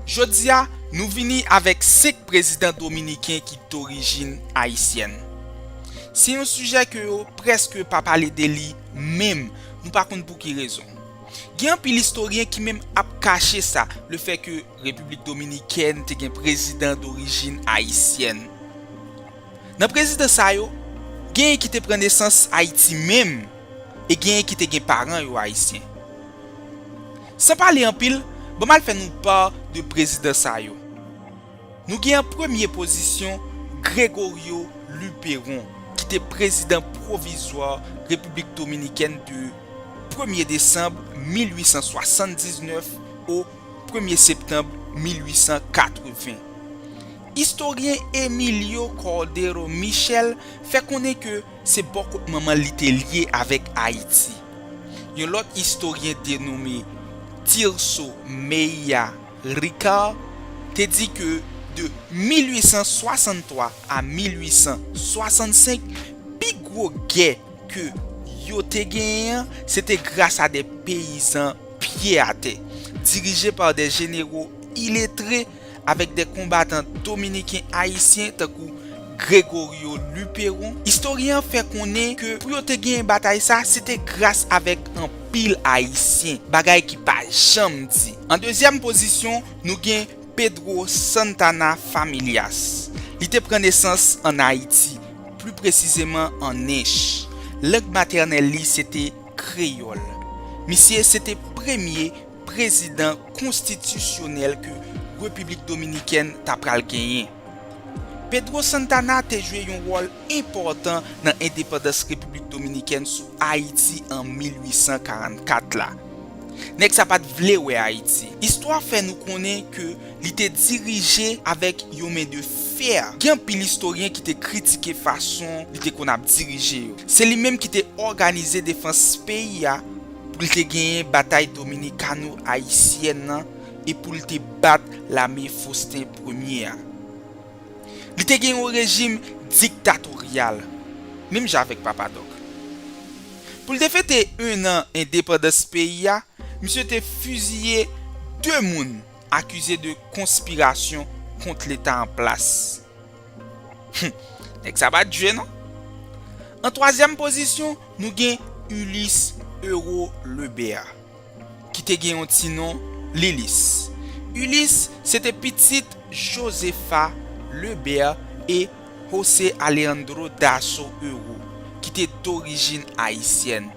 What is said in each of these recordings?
Jodi a, nou vini avèk 5 prezidan dominiken ki dorijin ayisyèn. Se yon sijè ke yo prèske pa pale de li menm, nou pa konn pou ki rezon. Gen anpil istoryen ki menm ap kache sa, le fè ke Repiblik Dominikèn te gen prezidan dorijin ayisyèn. Nan prezidan sa yo, genyen ki te pran nesans Ayiti menm e genyen ki te gen paran yo ayisyen. San pale anpil, ban m al fè nou pa de prezidan sa yo. Nou gen an premye pozisyon Gregorio Luperon ki te prezidan pwovizwa Repiblik Dominikèn de premye desanm 1879 o premye septanm 1880. Istoryen Emilio Cordero Michel fè konnen ke Se bò kot manman l li te lye avèk Ayiti. Yon lòt istoryen denome Tirso Meïa Ricard te di ke de 1863 a 1865 pi gwo gè ke yo te genyen an se te gras a de peyizan pye atè, dirije pa de jenero iletre, avèk de konbatan dominiken ayisyen tankou Gregorio Luperon, istoryen an fè konnen ke pou yo te genyen batay sa se te gras avèk anpil ayisyen, bagay ki pa janm di. An dezyèm pozisyon nou gen Pedro Santana Familias, li te pran nesans an Ayiti, pli presizeman an Ench. Lang matènèl li se te kreyòl. Misye se te premye prezidan konstitisyonèl ke Repiblik Dominikèn ta pral genyen. Pedro Santana te jwe yon wòl enpòtan nan endepandans Repiblik Dominikèn sou Ayiti an 1844 la. Nèg sa pat vle wè Ayiti. Istwa fè nou konnen ke li te dirije avèk yon men de fè. Gen anpil istoryen ki te kritike fason li te konn ap dirije yo. Se li menm ki te òganize defans peyi a. pou l te genyen batay dominikano-ayisyèn nan e pou l te bat lame Fosten Premye a. Li te gen yon rejim diktatoryal, menm jan avèk Papa Dòk. Pou l te fete ennan endepandans peyi a, misye te fiziye de moun akize de konspirasyon kont leta an plas. Humm nèg sa pat jwe non. An twazyèm pozisyon nou gen Ulysse Euro Lebert ki te gen yon ti non Lilis. Ulysse se te pitit Josefa Lebert e Jose Alejandro Dasso Euro ki te dorijin ayisyèn.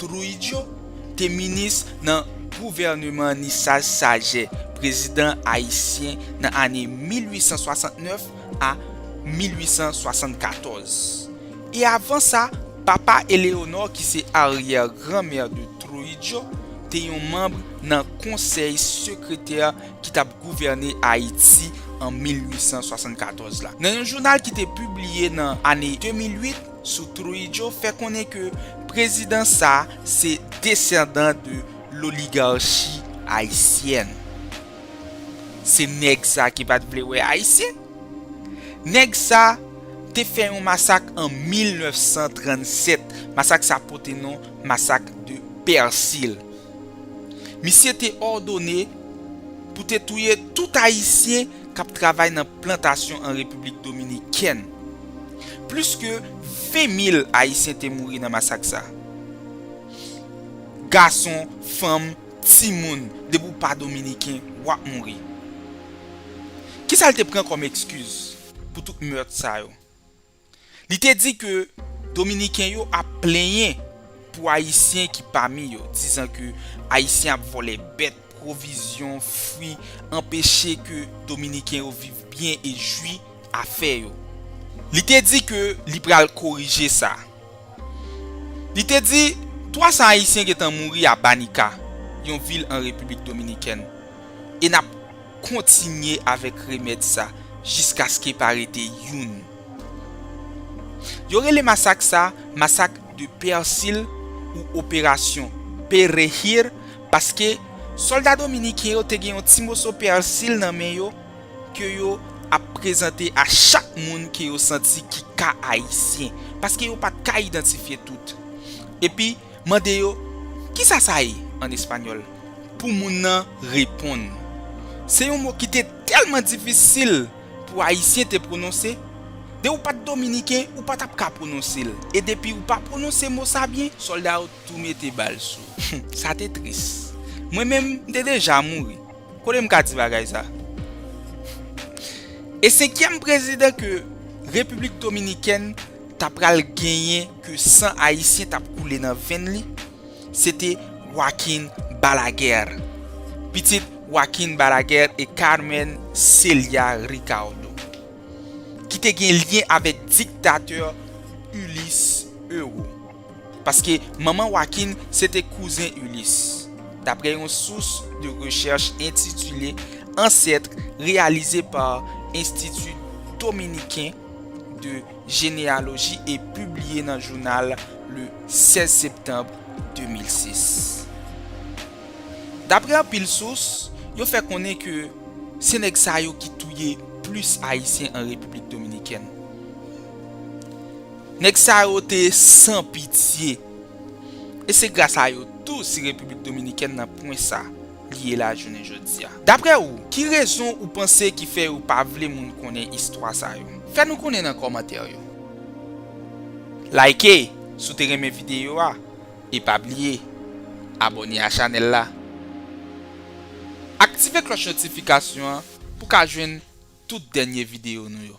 Trujillo te minis nan gouvèneman Nisaj Sajè, prezidan ayisyen nan ane 1869 a 1874. E avan sa, papa Eleonor ki se aryè granmè de Trujillo te yon manb nan konsèy sekretè ki t ap gouvène Ayiti an 1874 la. Nan yon jounal ki te pibliye nan ane 2008, sou Trujillo fè konnen ke prezidan sa se desandan de loligarchi ayisyèn. Se nèg sa ki pat vle wè ayisyen. Nèg sa te fè yon masak an 1937, masak sa pote non masak de Persil. Misye te òdone pou te touye tout Ayisyen k ap travay nan plantasyon an Repiblik Dominikèn. Plis ke 20 mil Ayisyen te mouri nan masak sa. Gason, fanm, timoun, depi w pa Dominiken, w ap mouri. Kisa l te pran kòm ekskiz pou tout meurt sa yo? Li te di ke Dominiken yo ap plenyen pou Ayisyen ki pami yo, dizan ke Ayisyen ap vòlè bèt, pwovizyon, fwi, anpeche ke Dominiken yo viv byen e jwi afè yo. Li te di ke li pral korije sa. Li te di 300 Ayisyen gentan mouri a Banica, yon vil an Repiblik Dominikèn, e n ap kontinye avèk remèd sa jiskaske pa rete youn. Yo rele masak sa masak de Pèsil ou operasyon Perehir paske sòlda dominiken yo te gen yon ti moso pèsil nan men yo, ke yo ap prezante a chak moun ke yo santi ki ka ayisyen, paske yo pat ka idantifye tout. Epi mande yo, kisa sa ye? an espanyòl, pou moun nan reponn. Se yon mo ki te tèlman difisil pou ayisyen te pwononse, de ou pat dominiken ou pa tap ka pwononse l, e depi ou pa pwononse mo sa byen, sòlda yo tou mete bal sou ou. Sa te tris. Mwen menm, m te deja mouri. Kote m ka di bagay sa? E senkyèm prezidan ke Repiblik Dominikèn ta pral genyen ke san Ayisyen t ap koule nan venn li, se te Joaquín Balaguer, pitit Joaquín Balaguer et Carmen Celia Ricardo, ki te gen lyen avèk diktatè Ulysse Euro. Paske manman Joaquin se te kouzen Ulysse, dapre yon sous de rechèch entitile Ancêtres reyalize pa Enstiti Dominiken de Jeneyaloji e pibliye nan jounal le 16 septanb 2006. Dapre anpil sous, yo fè konnen ke se nèg sa yo ki touye plis Ayisyen an Repiblik Dominikèn. Nèg sa yo te san pitye. E se gras a yo tou si Repiblik Dominikèn nan pwen sa li ye la jounen jodi a. Daprè ou, ki rezon ou panse ki fè yo pa vle moun konnen istwa sa yo? Fè nou konnen nan kòmantè yo. Like si w te renmen videyo a e pa bliye abòne a chanèl la. Aktive klòch notifikasyon an pou w ka jwenn tout dènye videyo nou yo.